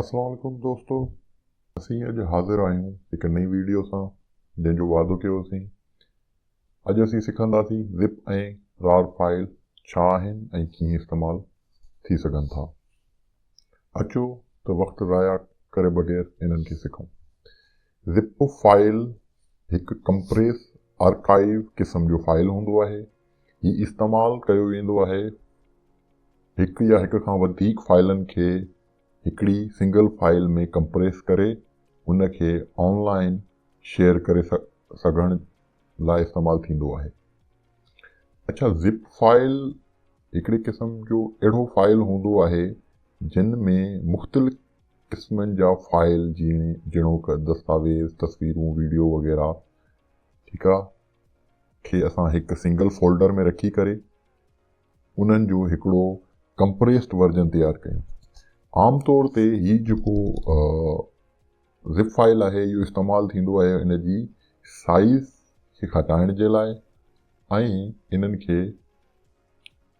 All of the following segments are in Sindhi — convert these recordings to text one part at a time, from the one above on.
اسلام عليڪم دوستو اسين اڄ حاضر آهيون هڪ نئين ويڊيو سان جنهن جو وعدو ڪيو هوسين اڄ اسين سکنداسين زپ ۽ رار فائل ڇا آهن ۽ ڪيئن استعمال ٿي سگهن ٿا اچو ته وقت ضايع ڪري بغير انهن کي سکون زپ فائل هڪ ڪمپريس آرڪائيو قسم جو فائل هوندو آهي. هي استعمال ڪيو ويندو آهي هڪ يا هڪ کان وڌيڪ فائلن کي هڪڙي سنگل فائل ۾ ڪمپريس ڪري ان کي آن لائن شيئر ڪري سگهڻ لاء استعمال ٿيندو آهي. اڇا زپ فائل هڪڙي قسم جو اهڙو فائل هوندو آهي جن ۾ مختلف قسمن جا فائل جيئن جهڙوڪ دستاويز، تصويرون، ويڊيو وغيره ٺيڪ آ کي اسان هڪ سنگل فولڊر ۾ رکي ڪري انهن جو هڪڙو ڪمپريسڊ ورجن تيار ڪيون. عام طور تي هي جيڪو زپ فائل آهي اهو استعمال ٿيندو آهي ان جي سائيز کي گهٽائڻ جي لاء ۽ انهن کي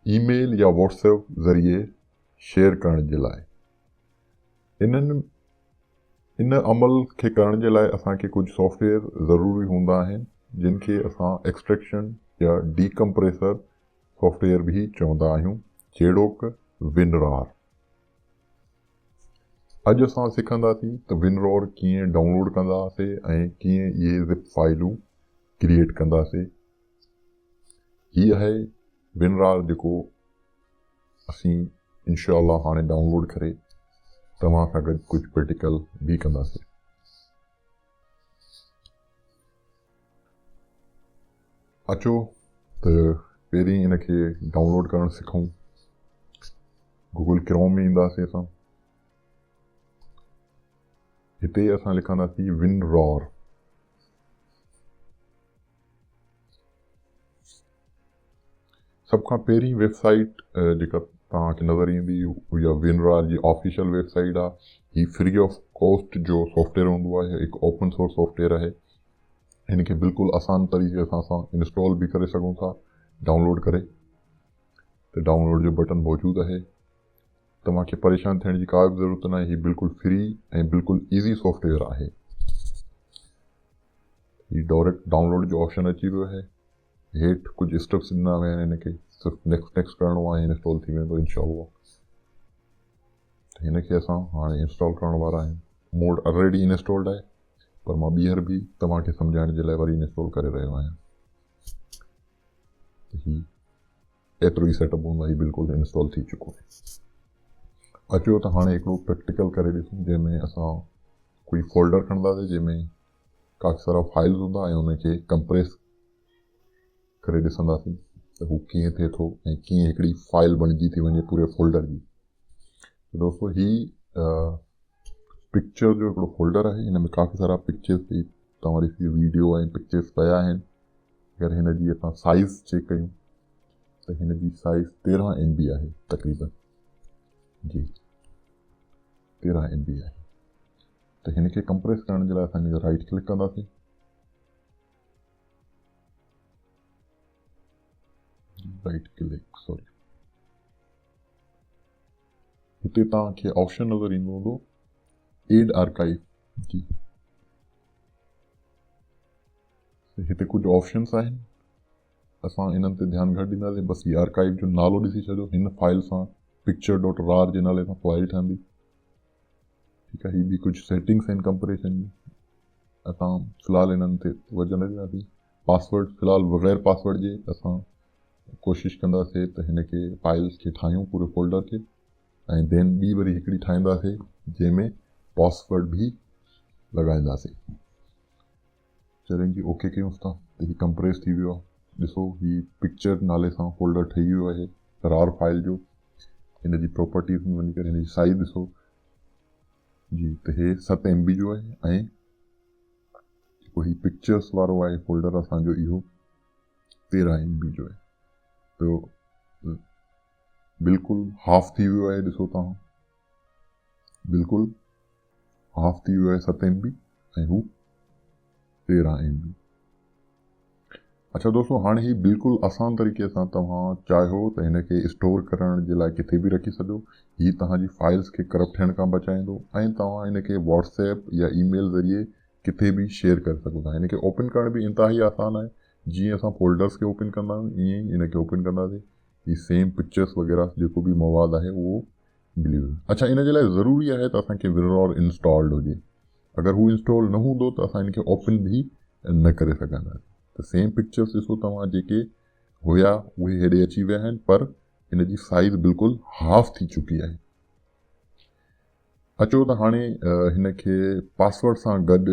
اي ميل يا واٽس ايپ ذريعي شيئر ڪرڻ جي لاء انهن ان عمل کي ڪرڻ جي لاء اسان کي ڪجهه سافٽ ويئر ضروري هوندا آهن جن کي اسان ايڪسٽريڪشن يا ڊي ڪمپريسر سافٽ ويئر به چوندا آهيون جهڙوڪ ونرار اڄ اسان سکنداسين ته ونرور ڪيئن ڊائونلوڊ ڪنداسي ۽ ڪيئن اهي زپ فائلون ڪريئيٽ ڪنداسي هي آهي ونرار جيڪو اسين انشاء الله هاڻي ڊائونلوڊ ڪري توهان سان گڏ ڪجهه پريٽيڪل به ڪنداسين اچو ته پهرين ان کي ڊائونلوڊ ڪرڻ سکون گوگل ڪروم ۾ اينداسين اسان هتي اسان لکنداسين ون رار سڀ کان پهرين ويب سائيٽ جيڪا توهان کي نظر ايندي اها وينرا جي آفيشل ويب سائيٽ آهي هي فري آف ڪوسٽ جو سافٽويئر هوندو آهي هڪ اوپن سورس سافٽويئر آهي هن کي بلڪل آسان طريقي سان اسان انسٽال به ڪري سگهون ٿا ڊائونلوڊ ڪري ته ڊائونلوڊ جو بٽن موجود آهي توهان کي پريشان ٿيڻ جي ڪا به ضرورت ناهي هي بلڪل فري ۽ بلڪل ايزي سافٽويئر آهي هي ڊائريڪٽ ڊائونلوڊ جو آپشن اچي ويو آهي هيٺ ڪجهه اسٽيپس ڏنا ويا آهن هن کي صرف نيڪسٽ نيڪسٽ ڪرڻو آهي انسٽال ٿي ويندو انشاء الله هن کي اسان هاڻي انسٽال ڪرڻ وارا آهيون موڊ آلريڊي انسٽالڈ آهي پر مان ٻيهر به توهان کي سمجھائڻ جي لاء وري انسٽال ڪري رهيو آهيان هي ايترو ئي سيٽ اپ هوندو هي بلڪل انسٽال ٿي چڪو آهي اچو ته هاڻي هڪڙو پريڪٽيڪل ڪري ڏسون جنهن ۾ اسان ڪوئي فولڊر کڻنداسين جنهن ۾ ڪافي سارا فائلز هوندا ۽ انهن کي ڪمپريس ڪري ڏسنداسين ته هو ڪيئن ٿئي ٿو ۽ ڪيئن هڪڙي فائل بڻجي ٿي وڃي پوري فولڊر جي ته دوستو هي پڪچر جو هڪڙو فولڊر آهي هن ۾ ڪافي سارا پڪچرس پئي توهان ڏسي ويڊيو ۽ پڪچرس پيا آهن اگر هن جي اسان سائز چيڪ ڪيون ته هن جي سائز تيرهن ايم بي آهي تقريبن جي تيرهن ايم بي آهي ته هن کي ڪمپريس ڪرڻ جي لاء اسان هن کي رائيٽ ڪلڪ ڪنداسين رائيٽ ڪلڪ سوري هتي توهان کي آپشن نظر ايندو هوندو ايڊ آرڪائيو جي هتي ڪجهه آپشنس آهن اسان انهن تي ڌيان گهٽ ڏينداسين بس هي آرڪائيو جو نالو ڏسي ڇڏيو هن فائل سان پڪچر ڊاٽ رار جي نالي سان فائل ٺهندي هي به ڪجهه سيٽنگس آهن ڪمپريشن جون اسان في الحال انهن تي توجه نه ڏينداسين پاسورڊ في الحال بغير پاسورڊ جي اسان ڪوشش ڪنداسين ته هن کي فائلس کي ٺاهيون پوري فولڊر کي ۽ دين ٻي وري هڪڙي ٺاهينداسين جنهن ۾ پاسورڊ به لڳائينداسين چرين کي اوڪي ڪيونس ٿا ته هي ڪمپريس ٿي ويو آهي ڏسو هي پڪچر نالي سان فولڊر ٺهي ويو آهي رار فائل جو هن جي پراپرٽيز ۾ وڃي ڪري هن جي سائز ڏسو جي ته هي ست ايم بي جو آهي ۽ جيڪو هي پڪچرس وارو آهي فولڊر اسانجو اهو تيرهن ايم بي جو آهي ته بلڪل هاف ٿي ويو آهي ڏسو تان بلڪل هاف ٿي ويو آهي ست ايم بي ۽ هو تيرهن ايم بي اچا دوستو هاڻي هي بلڪل آسان طريقي سان توهان چاهيو ته هن کي اسٽور ڪرڻ جي لاء ڪٿي به رکي سڏو هي توهان جي فائلز کي ڪرپٽ ٿيڻ کان بچائيندو ۽ توهان هن کي واٽس ايپ يا اي ميل ذريعي ڪٿي به شيئر ڪري سگهو ٿا هن کي اوپن ڪرڻ به انتهائي آسان آهي جيئن اسان فولڊرز کي اوپن ڪندا آهيون ائين ئي هن کي اوپن ڪنداسي هي سيم پڪچرز وغيره جيڪو به مواد آهي اهو بليون اڇا ان جي لاء ضروري آهي ته اسان کي وررور انسٽالڊ هجي اگر هو انسٽال نه هوندو ته اسان ان کي اوپن به نه ڪري سگهنداسين ته سيم پڪچرس ڏسو توهان جيڪي هيا اهي هيڏي اچي ويا آهن پر ان جي سائز بلڪل هاف ٿي چڪي آهي اچو ته هاڻي هن کي پاسورڊ سان گڏ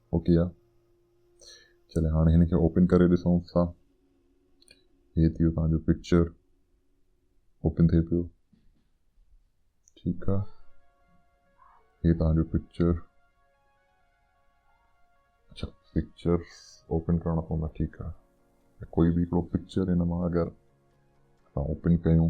اوڪي آ چلي هاڻي هن کي اوپن ڪري ڏسون ٿا هي ٿيو تان جو پڪچر اوپن ٿي پيو ٺيڪ آ هي تان جو پڪچر اچھا پڪچر اوپن ڪرڻا پوندا ٺيڪ آ ڪوئي به هڪڙو پڪچر هن مان اگر اوپن ڪيون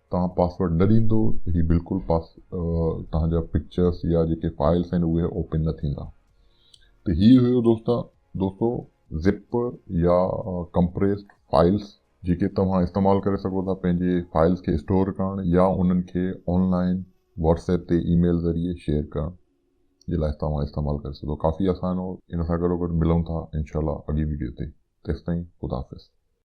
توهان پاسورڊ نه ڏيندو ته هي بلڪل پاس توهان جا پڪچرس يا جيڪي فائلس آهن اهي اوپن نه ٿيندا ته هي هيو دوستا دوستو زپ يا ڪمپريسڊ فائلس جيڪي توهان استعمال ڪري سگهو ٿا پنهنجي فائلس کي اسٽور ڪرڻ يا انهن کي آنلائن واٽس ايپ تي اي ميل ذريعي شيئر ڪرڻ جي لاء توهان استعمال ڪري سگهو ٿا ڪافي آسان هو ان سان گڏوگڏ ملون ٿا انشاء الله اڳي ويڊيو تي تيستائين خدا حافظ